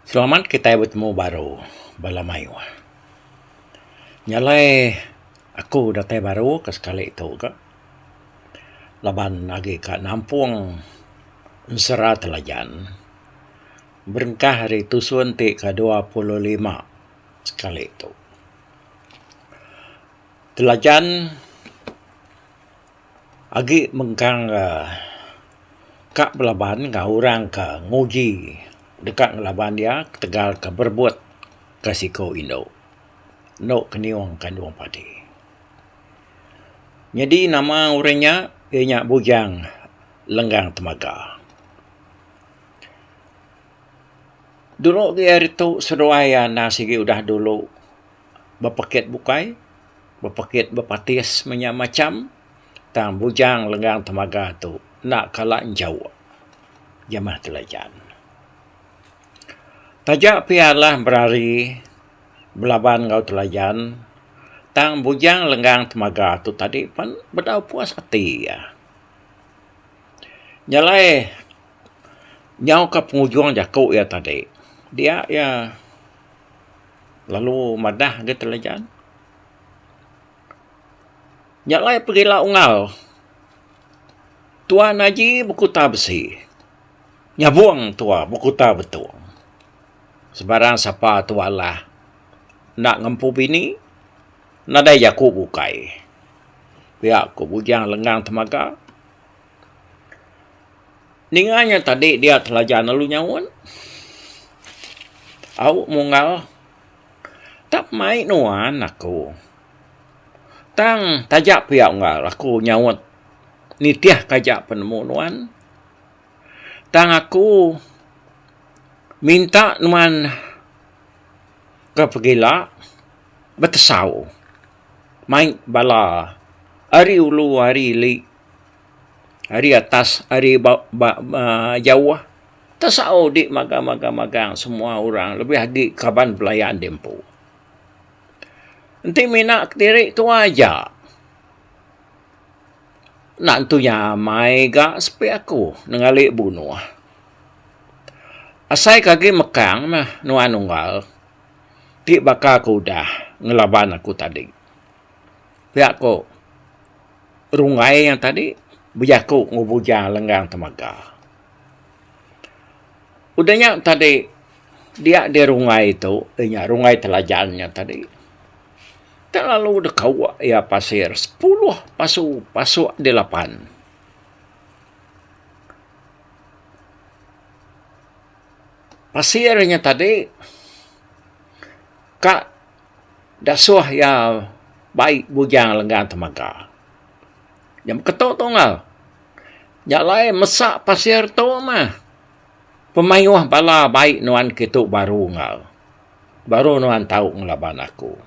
Selamat kitai betemu baru bala mayuh. Nya alai aku datai baru ke sekali tu ka laban agi ka nampung ensera telajan berengkah ari tusun ti ke dua puluh lima sekali tu. Telajan. agi mengkang ga ka belaban enggau orang ka nguji deka ngelaban iya ketegal ka berebut ka siko indu endo ke neong kandong padi. Nyadi nama orang nya iya nya Bujang Lenggang Temaga. Dulu agi ari tu seduai iya enda sigi udah dulu bepekit bukai, bepekit bepatis menya macham tang bujang lenggang temaga tu enda kala enjau jemah telajan. Taja pia lah berari belaban enggau telajan tang bujang lenggang temaga tu tadi pen bedau puas ati iya. Nyelai nyauka pengujung jaku iya tadi dia iya lalu madah ga telejan nya alai perila ungau tuan aji bekuta besi nyabong tua bekuta betung sebarang sapa tua alah enda ngempu bini nadai jaku bukai pia ku bujang lenggang temaga. Ninga nya tadi dia telaja lalu nyaut. Au munggal tak mai nuan aku. Tang taja pia unggal aku nyaut nitih ka aja penemu nuan. Tang aku minta nuan ke pegila betesau mai bala ari ulu ari ili. ari atas ari ba ba aaa jauh tesau dik magang magang magang semua orang lebih agi kaban belayan di empu. Enti mina kediri tuai aja enda entu nya amai ga sepi aku nenggali bunuh. Asai ke agi mekang meh nuan unggal ti baka ke udah ngelaban aku tadi. pia ko runggai iya tadi bejaku enggau buja lenggang temega. Udah nya tadi dia di runggai tu inya runggai telajan nya tadi telalu dek kawa iya pasir sepuluh pasu pasu di lapan. Pasir nya tadi ka Dasuh iya bai bujang lenggang temaga. Nya beketu tunggal. Nya alai mesa pasir tu mah. Pemayuh bala bai nuan kitu baru enggau. Baru nuan tau ngelaban aku.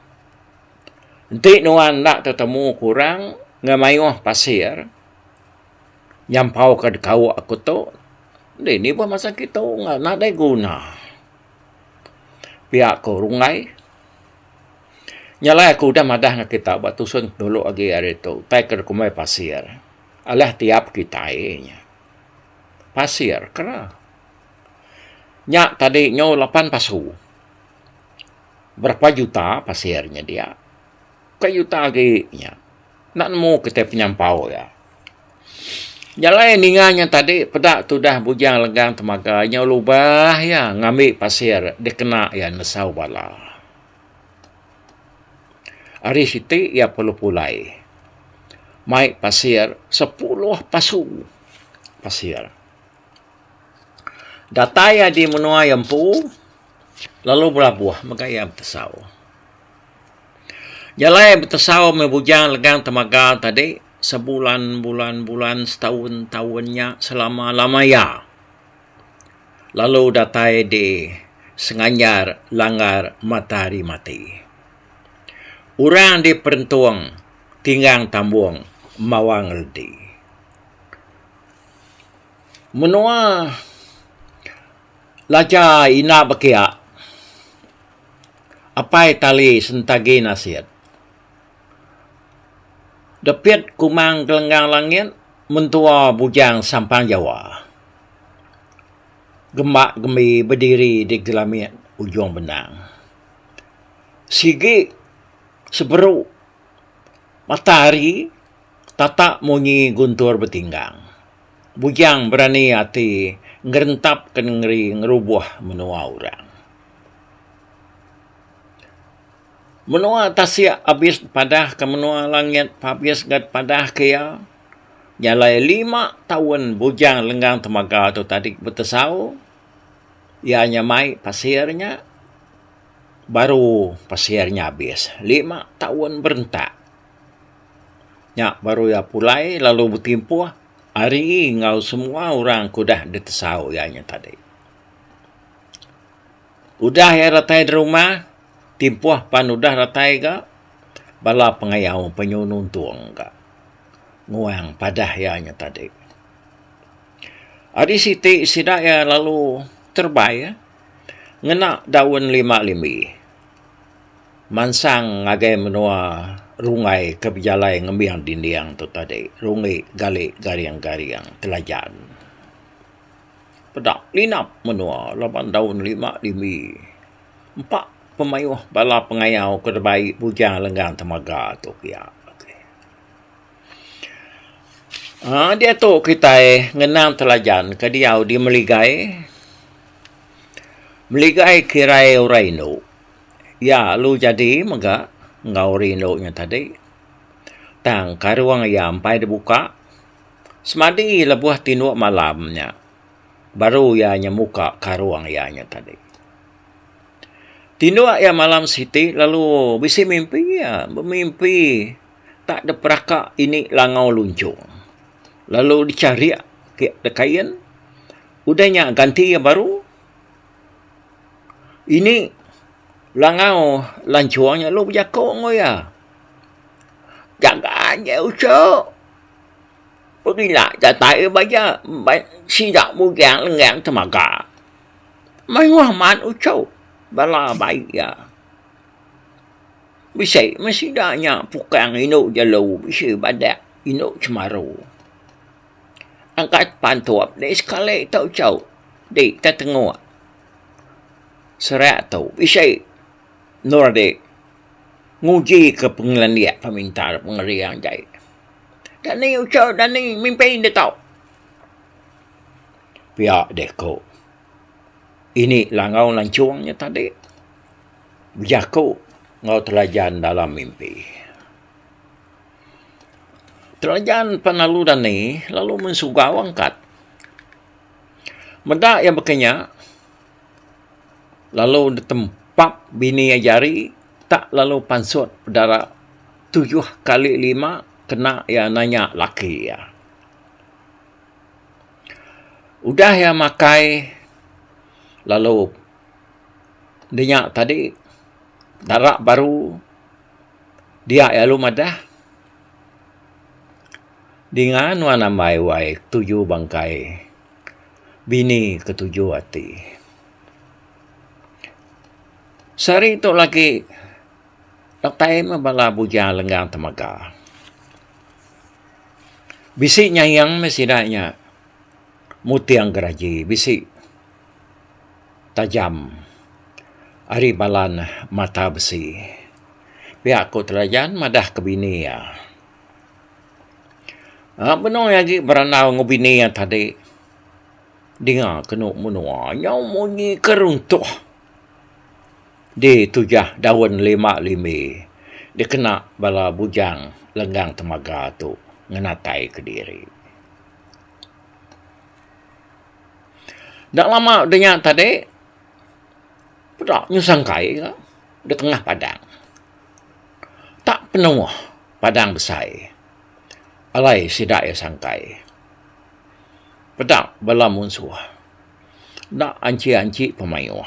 Enti nuan enda tetemu ke orang enggau mayuh pasir nyampauka dekauk aku tu, dini bah masa kitu tunggal nadai guna. pia ku runggai. Nyalai aku udah madah ngan kita ba tusun dulu agi hari tu utai ke kumbai pasir alah tiap kitai nya pasir kera. Nya tadi nyau lapan pasu. Berapa juta pasir nya dia. Ka juta agi nya. Enda nemu kitai penyampau iya. Jalai ninga nya tadi peda tudah Bujang Lenggang Temaga nyau lubah iya ngambi pasir dikena iya nesau bala. Ari siti iya perlu pulai mai pasir sepuluh pasu pasir. Datai iya di menua iya empu. lalu belabuh mega iya betesau. Jalai betesau meh bujang legang temaga tadi sebulan-bulan-bulan setaun-taun nya selama-lama iya lalu datai di Senganyar langgar matahari mati. Orang di Perentong tinggang tambong mawang reti. Menua. Laja ina bekia, apai tali sentagi nasit. Depit kumang gelenggang langit, mentua bujang sampang jawa. Gemba gembi bediri di gelamit ujung benang. Sigi seberu matahari tatak munyi guntur betinggang. bujang berani ati ngerentapka nengeri ngerubuh menua orang. Menua tasik abis dipadahka menua langit abis ga dipadah ke iya. Jalai lima taun bujang lenggang temaga tu tadi betesau iya nya mai pasir nya baru pasir nya abis. Lima taun berentak. Nya baru iya pulai lalu betimpuh ari enggau semua orang ke udah ditesau iya nya tadi. Udah iya datai da rumah, timpuh pan udah datai ga, bala pengayau panyu nuntung ga nguang padah iya nya tadi. Ari siti sida iya lalu terebai ngena daun lima limbi. Mansang ngagai menua runggai ke bejalai ngembing dinding tu tadi, runggi gali garing-garing telajan. Peda linap menua laban daun lima dimi. Empa pemayuh bala pengayau ke deba ai bujang lenggang temaga tu pia. Aaa diatu kitai ngenang telajan ke diau di Meligai. Meligai kirai orang indu. Iya alu jadi mega enggau ori indu nya tadi. Tang karung iya empai dibuka, semadi lebuh tindu malam nya baru iya nya muka karung iya nya tadi. Tindu iya malam siti lalu bisi mimpi iya, bemimpi tak dep beraka ini langau lunchok. Lalu dicharik ke dekain, udah nya ganti iya baru. Ini langau lanchong nya lu bejako enggau iya. Jaga aja uchu. Pebila datai iya ba iya sida bugang lengang temaga. Mayuh man uchu bala bai iya. Bisi meh sida nya pukang indu jelu bisi badak indu chemaru. Angkat pantup dek sekali tu chau di ke tengok serak tu bisi endur dek nguji ke pengelandik peminta pengering dek dak ni chau dak ni mimpi dek tu pia dek ko ini langau lanchong nya tadi bejaku enggau telajan dalam mimpi. Telajan pengalu dani lalu mensuga wang kad. Meda iya baka nya lalu ditempap bini iya jari tak lalu pansut dara tujuh kali lima kena iya nanya laki iya. Udah iya makai lalu dinya tadi dara baru Dia iya lalu madah, Dinga nuan ambai wai ketuju bangkai bini ketuju ati. Sehari tu lagi datai meh bala bujang lenggang temaga. Bisi nyaing meh sida nya muting geraji bisi. tajam ari bala ne mata besi. Pia ku Telajan madah ke bini iya. Aa benung iya agi berandau enggau bini iya tadi dinga ke enu menua nyau munyi ke runtuh di tujah daun lima lime dikena bala bujang lenggang temaga tu ngenatai kediri. Enda lama udah nya tadi, peda nyusah engkai ga da tengah padang. Tak penuh padang besai. Alai sida iya sangkai. Peda bala munsuh. Enda anchi-anchi pun mayuh.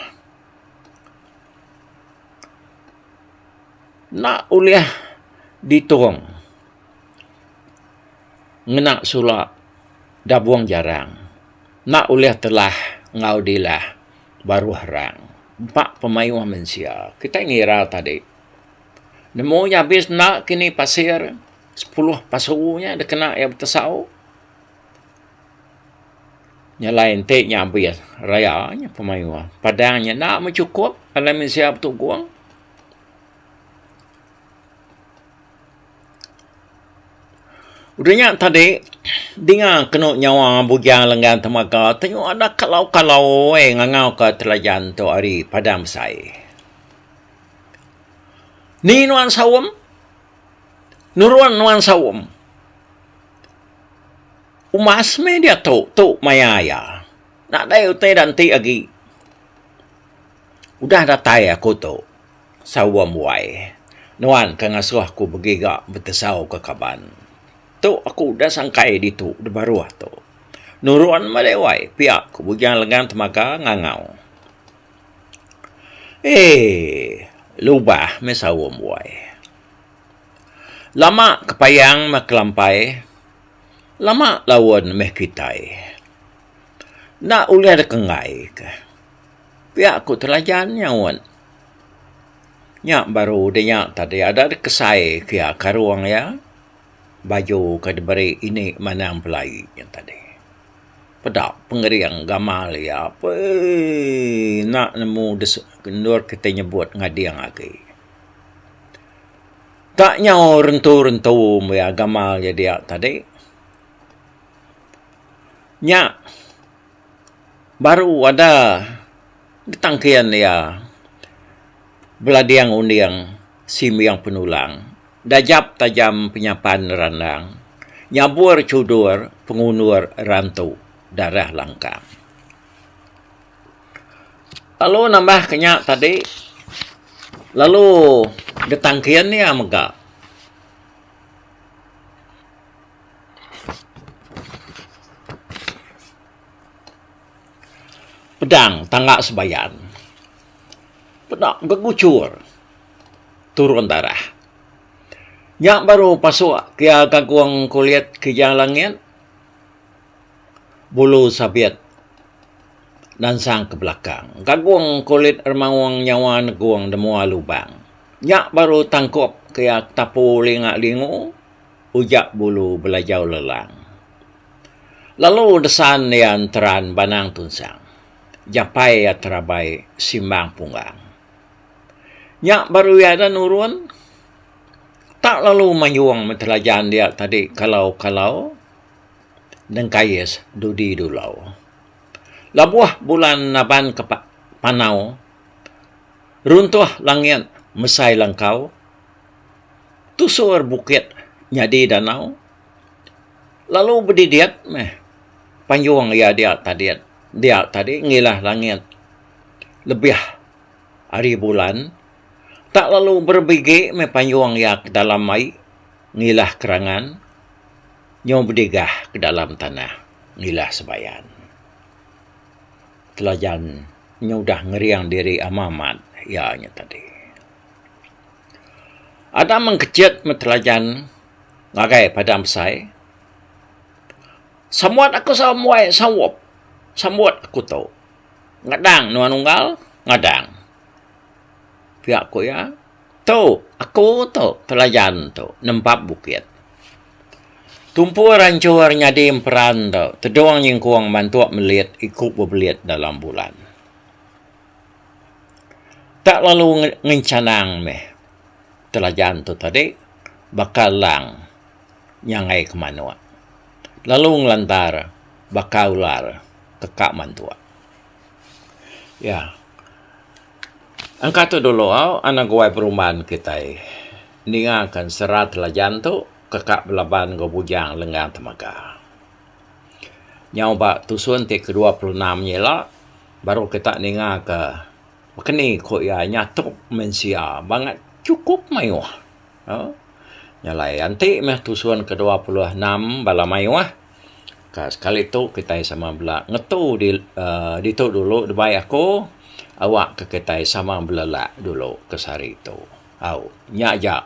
Enda ulih ditung. ngena sura dabung jarang enda ulih telah enggau dilah baruh rang empa pemayuh mensia. Kitai ngira tadi nemu nya abis enda kini pasir sepuluh pasu nya dikena iya betesau. Nya alai enti nya abis raya nya pemayuh. Padang nya enda me chukup alai mensia betugong. Udah nya tadi, dinga kenu nyawa Bugiang Lenggang Temaga tu nyuah da kalau-kalau ai ngangau ka Telajan tu ari padang besai. Ni nuan saum? Nurun nuan saum? Umbas meh diatu tu maya iya. Nadai utai da enti agi. Udah datai aku tu. Saum wai. Nuan ke ngasuh aku begiga betesau ke kaban. Tu aku udah sangkai ditu di baruh tu. Nurun melei wai pia ku Bujang Lengang Temaga ngangau. Eeii. Lubah meh Saum wai. Lama ke payang meh kelampai, lama laun meh kitai. Enda ulih deka enggai ke. Pia ku Telajan nyaut. Nya baru udah nya tadi ada deh kesai pia karung iya baju ke diberi indi manang pelai nya tadi. Peda pengering gamal iya pei enda nemu endur kita nyebut ngading agi. Tak nyau rentu-rentu meh iya gamal iya dia tadi. Nya. Baru ada getang kian iya belading unding simbing penulang, dajap tajam penyapan randang, nyabur chudur pengundur rantu darah langkang. Lalu nambah ke nya tadi, lalu getang kian iya mega. Pedang tangga sebayan. Peda beguchur turun darah. Nya baru pasuk kia ke agung kulit kejang langit. Bulu sabit nansang ke belakang. Ke agung kulit remaung nyawa negung da mua lubang. Nya baru tangkup kia ke tapu linga lingu. Ujak bulu belajau lelang. Lalu desan iya enteran banang tunsang. Japai iya terabai simbang punggang. Nya baru iya enda nurun. Tak lalu mayung meh telajan dia tadi kalau kalau dengkais dudi dulau. Labuh bulan naban ke panau. Runtuh langit mesai langkau. tusur bukit nyadi danau lalu bedidit meh panjung iya dia tadi dia tadi ngilah langit lebih ari bulan tak lalu berebigi meh panjung iya ke dalam ai ngilah kerangan nyau bedigah ke dalam tanah ngilah sebayan. Telajan nyau udah ngering diri amat amat iya nya tadi. Ada mengkejut metelajan ngagai padang besai. Sambuat aku sambuai saup. Sambut aku tu. Ngadang nuan unggal, ngadang. Pia ku iya, Tu, aku tu telajan tu nempap bukit. Tumpu rancur nyadi emperan tu, tedung nyengkung mantuk melit iku bebelit dalam bulan. Tak lalu ngencanang meh telajan tu tadi baka lang nyangai ke manok lalu ngelantar baka ular teka mantok. Ya. Engka tu dulu anak guai peruman kitai ninga ke sera telajan tu teka belaban enggau bujang lenggang temaga. Nyau ba tusun ti ke dua puluh enam nya ila baru kita ninga ka baka ni ku iya nyatuk mensia bangat chukup mayuh aaa nyalai enti meh tusun ke dua puluh enam bala mayuh ka sekali tu kitai sama bela ngetu di aaa ditu dulu dibai aku awak ka kitai sama belelak dulu ke sehari tu. Au nya aja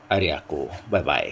ari aku. Bye bye.